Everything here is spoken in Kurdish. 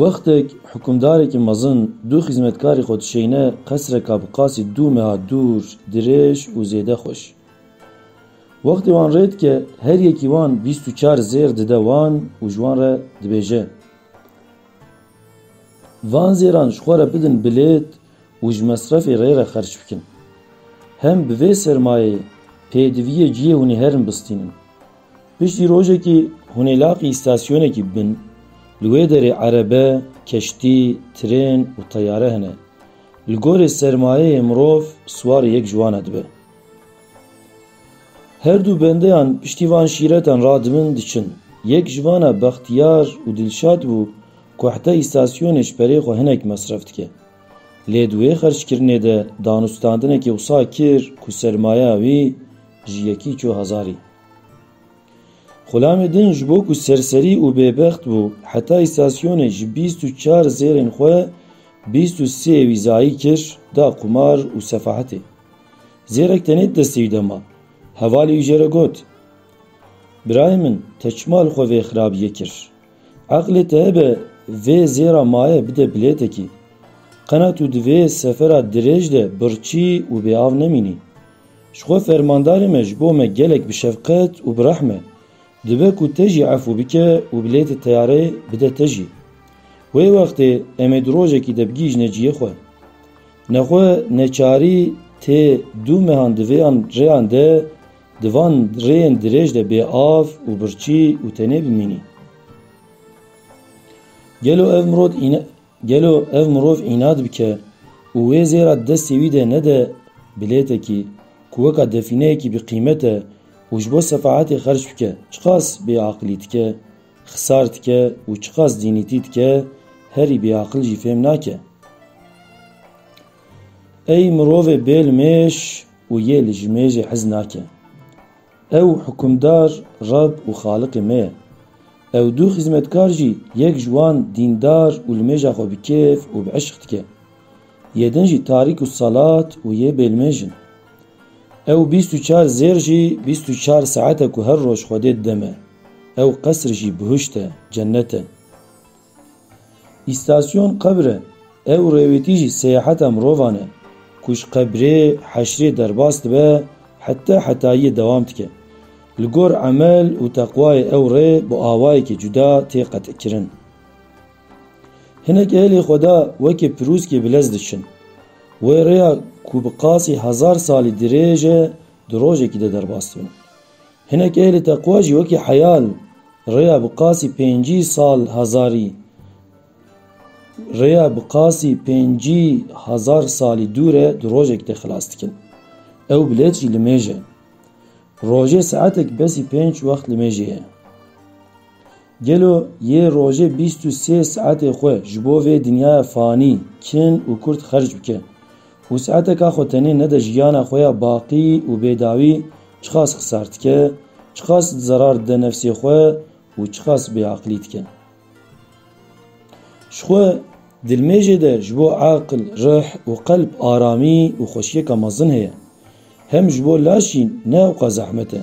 Wextek hukimdarekî mezin du xîzmetkarî xwe dişeyne qesreka bi qasî du meha dûr, dirêj û zêde xweş. Wextê wan rê dike her yekî wan bîst û çar zêr dide wan û ji wan re dibêje, Van zêran ji xwe re bidin bilêt û ji mesrefê rê re xerç bikin. Hem bi vê sermayeyê pêdiviyê ciyê hûnî herin bistînin. Piştî rojekî hûnê laqî îstasyonekî bin. Li wê derê erebe, keştî, trên û teyare hene. Li gorî sermayeyê mirov siwarê yek ji wan e dibe. Her dû bendeyan piştî van şîretan radibin diçin. Yek ji van e bextiyar û dilşad bû ku heta îstasyonê ji perê xwe hinek mesref dike. Lê di wê xerckirinê de danûstandinekê wisa kir ku sermaya wî ji yekî çû hezarî. Xulamê din ji bo ku serserî û bêbext bû heta îstasyonê ji bîst û çar zêrên xwe bîst û sê wî zayî kir da qumar û sefahetê. Zêrek tenê di destê wî de ma. Hevalê wî jê re got, Birayê min te çima li xwe vê xirabiyê kir? Eqlê te hebe vê zêra maye bide bilêtekî. Qena tu di vê sefera dirêj de birçî û bêav nemînî. Ji xwe fermandarê me ji bo me gelek bi şefqet û bi rehm e. Dibe ku te jî efû bike û bilêtê teyareyê bide te jî. Wê wextê em ê di rojekî de bigihîjine ciyê xwe. Nexwe neçarî tê du mehan di vê an rêyan de Di van rêyên dirêj de bê av û birçî û tenê bimînî. Gelo ev mirod îna gelo ev mirov înad bike û wê zêra di destê wî de nede bilêtekî ku weka defîneyekî bi qîmet e û ji bo sefahetê xerc bike çiqas bêaqilî dike, xisar dike û çiqas dînîtî dike herî bêaqil jî fêm nake. Ey mirovê bêl mêş! Û yê li ji me jî hez nake. Ew hukimdar Reb û Xaliqê me ye. Ew du xizmetkar jî yek ji wan dîndar û li mêja xwe bi kêf û bi eşq dike. Yê din jî Tarik û Salat û yê bêlmêj in. Ew bîst û çar zêr jî bîst û çar saet e ku her roj Xwedê dide me. Ew qesr jî bihuşt e, cennet e. Îstasyon qebr e, ew rêwêtî jî seyaheta mirovan e, ku ji qebrê, heşrê derbas dibe heta hetayiyê dewam dike. Li gor emel û teqwayê ew rê bi awayekî cuda tê qetikkirin. Hinek ehlê Xweda wekî pirûskê bi lez diçin. Wê rêya ku bi qasî hezar salî dirêj e di rojekî de derbas dibin. Hinek ehlê teqwa jî wekî heyal rêya bi qasî pêncî sal hezarî rêya bi qasî pêncî hezar salî dû re di rojekî de xilas dikin. Ew bilêt jî li mêj e. Rojê saetek besî pênc wext li mêjê ye. Gelo yê rojê bîst û sê saetê xwe ji bo vê dinyaya fanî kin û kurt xerc bike û saeteka xwe tenê nede jiyana xwe ya baqî û bêdawî çiqas xisar dike, çiqas zerar dide nefsê xwe û çiqas bêaqilî dike. Ji xwe dilmêjê de ji bo aqil, rih û qelb aramî û xweşiyeka mezin heye. Hem ji bo laşî ne ewqas zehmet e.